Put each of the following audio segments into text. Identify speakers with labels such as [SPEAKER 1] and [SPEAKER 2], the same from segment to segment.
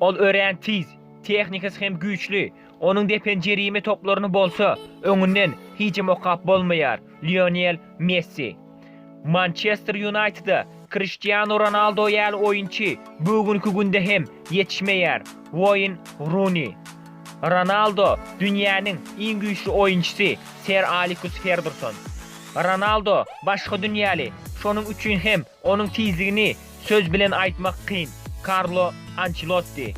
[SPEAKER 1] Ol örän tiz, tehnikasy hem güýçli, onuň depen jerime toplaryny bolsa öňünden hijem okap bolmaýar, Lionel Messi. Mançester Ýunaýtede Kriştianu Ronaldo ýaly oýunçy bu günki günde hem ýetişmeýär, Woýn Runi. Ronaldo, dünýäniň iň güýçli oýunçysy, Ser Alikus Ferguson. Ronaldo başga dünýäli, şonuň üçin hem onuň tizligini Söz bilen aýtmak kyn, Karlo Ançelotti,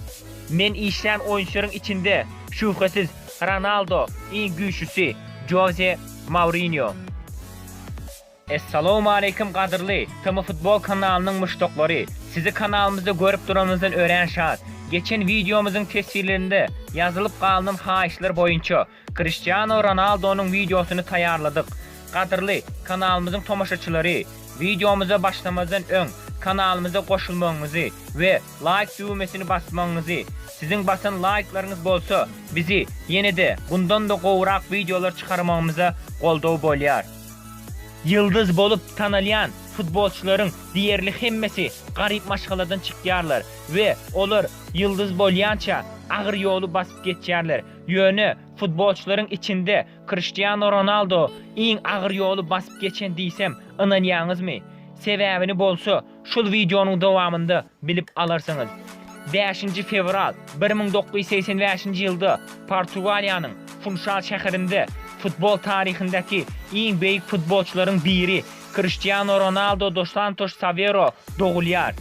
[SPEAKER 1] Men işlän oýunçylaryň içinde, şübhesiz, Ronaldo iň güýçlüsi, Joze Mourinýo. Essalowmaleýkim gadyrly TMFutbol kanalynyň muşdaklary! Sizi kanalymyzda görüp duranymyzdan örän şat! Geçen wideomyzyň teswirlerinde ýazylyp galynan haýyşlar boýunça Kriştiano Ronaldonyň wideosyny taýýarladyk. Gadyrly, kanalymyzyň tomaşaçylary, wideomyza başlamazdan öň kanalymyza goşulmagyňyzy we laýk düwmesini basmagyňyzy, siziň basan laýklaryňyz bolsa bizi ýene-de bundan-da gowurak wideolar çykarmagymyza goldaw bolýar. Ýyldyz bolup tanalýan futbolçylaryň diýerli hemmesi garyp maşgaladan çykýarlar we olar ýyldyz bolýança agyr ýoly basyp geçýärler. Ýöne, futbolçylaryň içinde Kriştianu Ronaldo iň agyr ýoly basyp geçen diýsem, ynanýaňyzmy? Sebäbini bolsa, şul wideonyň dowamynda bilip alarsyňyz. Bäşinji fewral bir müň dokuz ýüz segsen bäşinji ýylda Portugaliýanyň Funşal şäherinde futbol taryhyndaky iň beýik futbolçylaryň biri Kriştianu Ronaldo dos Santoş Savero dogulýar.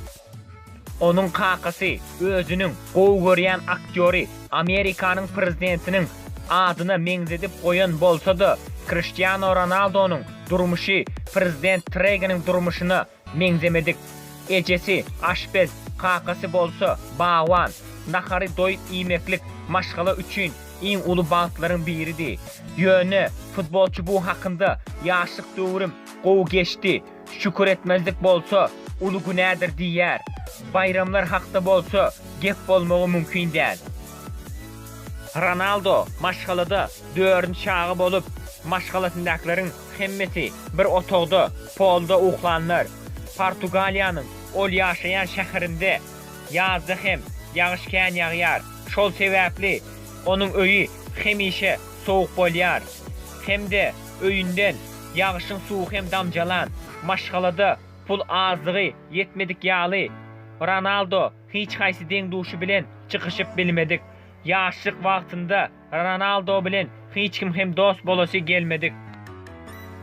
[SPEAKER 1] Onuň kakasy özüniň gowy görýän aktýory Amerikanyň prezidentiniň adyna meňzedip goýan bolsa-da, Kriştiano Ronaldonyň durmuşy prezident Treginiň durmuşyna meňzemedik. Ejesi, aşpez, kakasy bolsa, bagban. Nahary doýup iýmeklik maşgala üçin iň uly bagtlaryň biridi. Ýöne, futbolçy bu hakynda, Ýaşlyk döwrüm gowy geçdi. Şükür etmezlik bolsa, uly günädir diýýär. Baýramlar hakda bolsa, gep bolmagy mümkin däl. Ronaldo maşgalada dördünji çaga bolup, maşgalasyndakylaryň hemmesi bir otagda, polda uklanlar. Portugaliýanyň ol ýaşaýan şäherinde ýazda hem ýagyş kän ýagýar, şol sebäpli onuň öýi hemişe sowuk bolýar hem-de öýünden ýagşyň suwy hem damjalan, maşgalada pul azdygy ýetmedik ýaly, Ronaldo hiç haýsy deň-duşy bilen çykyşyp bilmedik. Ýaşlyk wagtynda Ronaldo bilen hiç kim hem dost bolasy gelmedik.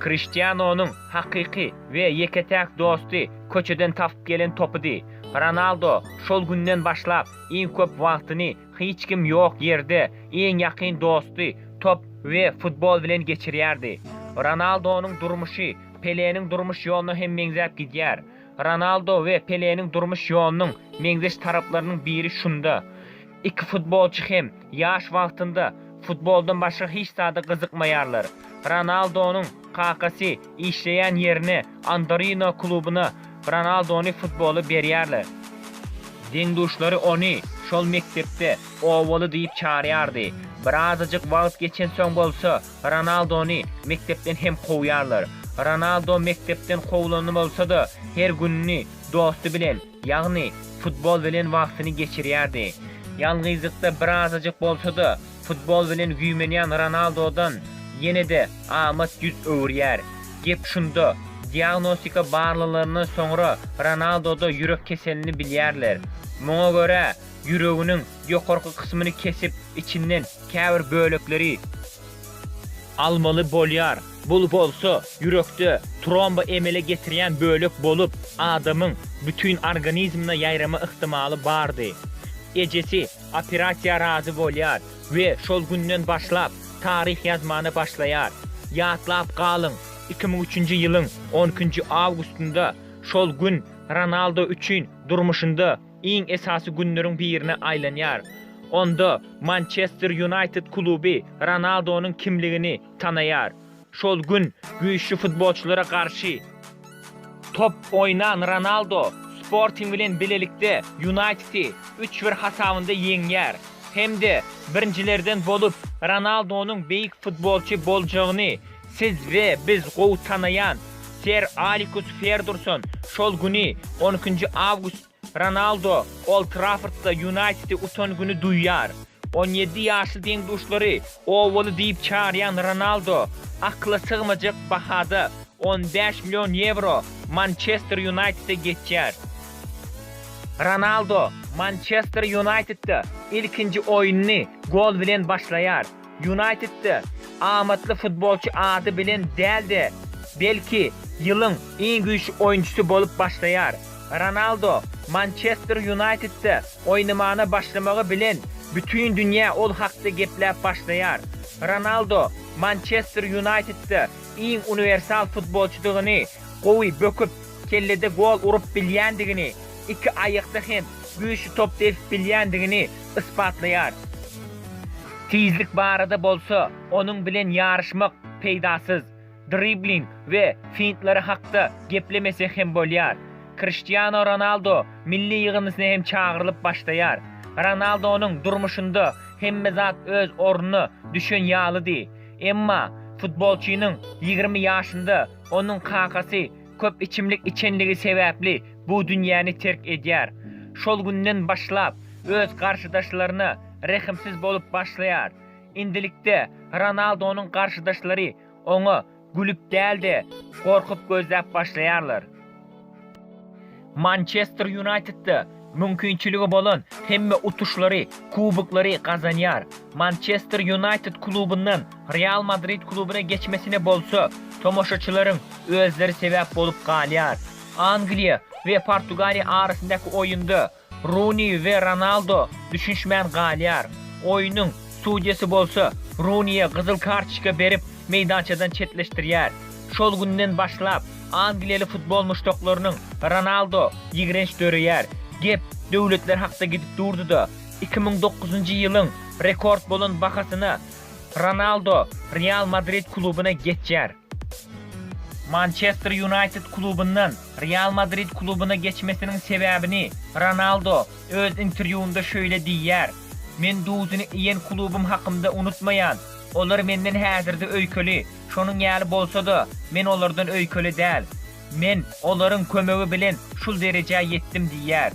[SPEAKER 1] Kriştianonyň hakyky we ýeke-täk dosty köçeden tapyp gelen topydy. Ronaldo şol günden başlap iň köp wagtyny Hiç kim ýok ýerde iň ýakyn dosty top we futbol bilen geçirýärdi. Ronaldonyň durmuşy Peleniň durmuş ýoluna hem meňzäp gidýär. Ronaldo we Peleniň durmuş ýolunyň meňzeş taraplarynyň biri şunda, iki futbolçy hem ýaş wagtynda futboldan başga hiç zada gyzykmaýarlar. Ronaldonyň kakasy işleýän ýerine Andorino klubyna Ronaldony futboly berýärler. Deň-duşlary ony şol mekdepde Owaly diýip çarýardy. Birazajyk wagt geçensoň bolsa Ronaldony mekdepden hem kowýarlar. Ronaldo mekdepden kowlany bolsa-da, her gününi dosty bilen Ýagny, futbol bilen wagtyny geçirýärdi. Ýalňyzlykda birazajyk bolsa-da, futbol bilen güýmenýän Ronaldodan ýene-de amat ýüz öwürýär. Gep şunda, diagnostika barlalaryndan soňra Ronaldoda ýürek keselini bilýärler. Muňa görä, ýüreginiň ýokarky kysmyny kesip, içinden käbir bölekleri. Almaly bolýar. Bul bolsa ýürekde tromba emele getirýän bölek bolup, adamyň bütin organizmine ýaýrama yhtymaly bardy. Ejesi operasiýa razy bolýar we şol günden başlap taryh ýazmana başlaýar. Ýatlap galyň, iki müň üçünji ýylyň on ikinji awgustynda şol gün Ronaldo üçin durmuşynda iň esasy günleriň birine aýlanýar. Onda Mançester Ýunaýted kluby Ronaldonyň kimligini tanaýar. Şol gün güýçli futbolçylara garşy top oýnan Ronaldo Sporting bilen bilelikde Ýunaýtedi üç bir hasabynda ýeňýär hem-de birinjilerden bolup Ronaldonyň beýik futbolçy boljagyny Siz we biz gowy tanaýan Ser Alikus Ferdurson şol güni, on ikinji awgust, Ronaldo Old Traffordda Ýunaýtedi utan güni duýýar. On ýedi ýaşly deň-duşlary obaly diýip çagyrýan Ronaldo akyla sygmajak bahada, on bäş million ýewro, Mançester Ýunaýtede geçýär. Ronaldo Mançester Ýunaýtedde ilkinji oýnuny gol bilen başlaýar. Ýunaýtedde amatly futbolçy ady bilen däl-de, belki, ýylyň iň güýçli oýunçysy bolup başlaýar. Ronaldo Mançester Ýunaýtedde oýnamana başlamagy bilen bütin dünýä ol hakda gepläp başlaýar. Ronaldo Mançester Ýunaýtedde iň uniwersal futbolçydygyny, gowy böküp, kellede gol urup bilýändigini, iki aýakda hem güýçli top depip bilýändigini ysbatlaýar. Tizlik barada bolsa, onuň bilen ýaryşmak peýdasyz. Dribling we fintlary hakda geplemesek hem bolýar. Kriştianu Ronaldo milli ýygyndysyna hem çagyrylyp başlaýar. Ronaldonyň durmuşynda hemme zat öz ornuna düşen ýalydy. Emma futbolçynyň ýigrimi ýaşynda onuň kakasy köp içimlik içenligi sebäpli bu dünýäni terk edýär. Şol günden başlap, öz garşydaşlaryna rehimsiz bolup başlaýar. Indilikde Ronaldonyň garşydaşlary oňa gülüp däl-de, gorkup gözläp başlaýarlar. Mançester Ýunaýtedde mümkinçiligi bolan hemme utuşlary, kuboklary gazanýar. Mançester Ýunaýted klubyndan Real Madrid klubuna geçmesine bolsa tomaşaçylaryň özleri sebäp bolup galýar. Angliýa we Portugaliýa arasyndaky oýunda Runi we Ronaldo düşünişmän galýar. Oýnuň sudýasy bolsa Runiýe gyzyl kartoçka berip, meýdançadan çetleşdirýär. Şol günden başlap, angliýaly futbol muşdaklarynyň Ronaldo ýigrenç döreýär. Gep döwletler hakda gidip durdy-da, iki müň dokuzynjy ýylyň rekord bolan bahasyna Ronaldo Real Madrid klubyna geçýär. Mançester Ýunaýted klubyndan Real Madrid klubyna geçmesiniň sebäbini Ronaldo öz interwýunda şeýle diýýär, Men duzuny iýen klubym hakymda unutmaýan, Olar Menden häzirde öýkeli, şonuň ýaly bolsa-da, Men olardan öýkeli däl. Men olaryň kömegi bilen şul derejä ýetdim diýýär.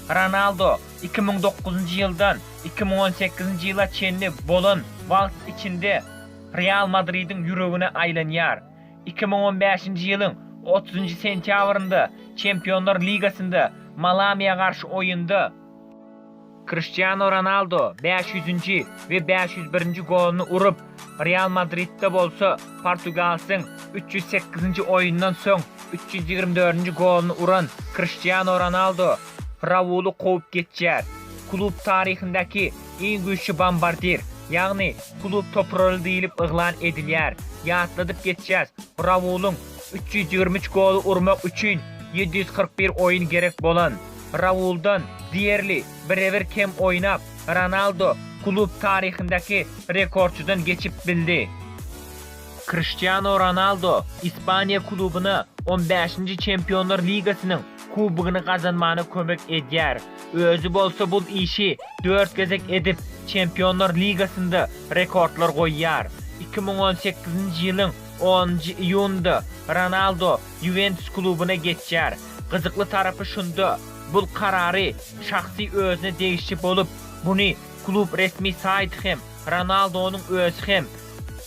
[SPEAKER 1] Ronaldo iki müň dokuzynjy ýyldan iki müň on sekizinji ýyla çenli bolan wagt içinde Real Madridiň ýüregine aýlanýar. Iki müň on bäşinji ýylyň otuzynjy sentýabrynda Çempionlar ligasynda Malamiýa garşy oýunda, Kriştianu Ronaldo bäş ýüzünji we bäş ýüz birinji goluny urup, Real Madridde bolsa portugalsyň üç ýüz sekizinji oýundan soň üç ýüz ýigrimi dördünji goluny uran Kriştianu Ronaldo Rauly kowup geçýär. Klub taryhyndaky iň güýçli bombardir, ýagny klub topraly diýlip yglan edilýär. Ýatladyp geçýäs, Raulyň üç ýüz ýigrimi üç goly urmak üçin ýedi ýüz kyrk bir oýun gerek bolan. Rauldan, diýerli, birebir kem oýnap, Ronaldo klub taryhyndaky rekordçydan geçip bildi. Kriştiano Ronaldo Ispaniýa klubyna on bäşinji Çempionlar ligasynyň Kubogyny gazanmana kömek edýär. Özi bolsa bul işi dört gezek edip, Çempionlar ligasynda rekordlar goýýar. Iki müň on sekizinji ýylyň onunjy iýunynda Ronaldo Ýuwentus klubyna geçýär. Gyzykly tarapy şunda, bul karary şahsy özüne degişli bolup, muny klub resmi saýty hem, Ronaldonyň özi hem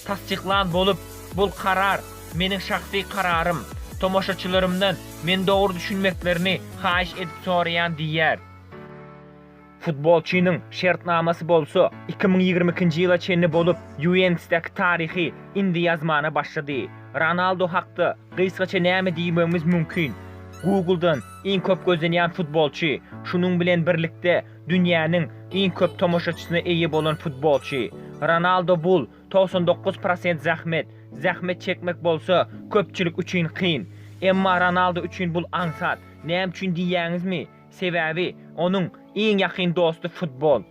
[SPEAKER 1] tassyklan bolup, bul karar meniň şahsy kararym, tomaşaçylarymdan meni dogry düşünmeklerini haýyş edip soraýan diýýär. Futbolçynyň şertnamasy bolsa iki müň ýigrimi ikinji ýyla çenli bolup, Ýuwentusdaky taryhy indi ýazmana başlady. Ronaldo hakda gysgaça näme diýmegimiz mümkin? Google-dan iň köp gözlenýän futbolçy, şunuň bilen birlikde dünýäniň iň köp tomaşaçysyna eýe bolan futbolçy. Ronaldo bul, togsan dokuz prosent zähmet, zähmet çekmek bolsa köpçülik üçin kyn. Emma Ronaldo üçin bul aňsat. Näme üçin diýýäňizmi? Sebäbi onuň iň ýakyn dosty futbol.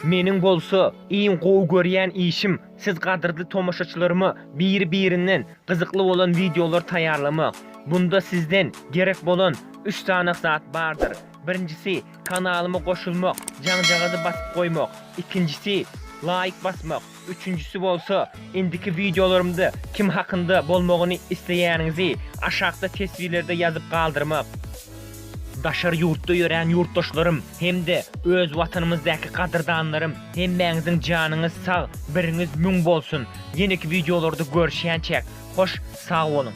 [SPEAKER 1] Meniň bolsa iň gowy görýän işim siz gadyrly tomaşaçylaryma biri-birinden gyzykly bolan wideolar taýýarlamak. Bunda sizden gerek bolan üç sany zat bardyr. Birinjisi kanalyma goşulmak, jaňjagazy basyp goýmak, ikinjisi laýk basmak, Üçünjisi bolsa, indiki wideolarymda kim hakynda bolmagyny isleýäniňizi aşakda teswirlerde ýazyp galdyrmak. Daşary ýurtda ýörän ýurtdaşlarym hem-de öz watanymyzdaky gadyrdanlarym hemmäňiziň janyňyz sag, biriňiz müň bolsun! Ýeneki wideolarda görüşýänçäk, hoş sag boluň!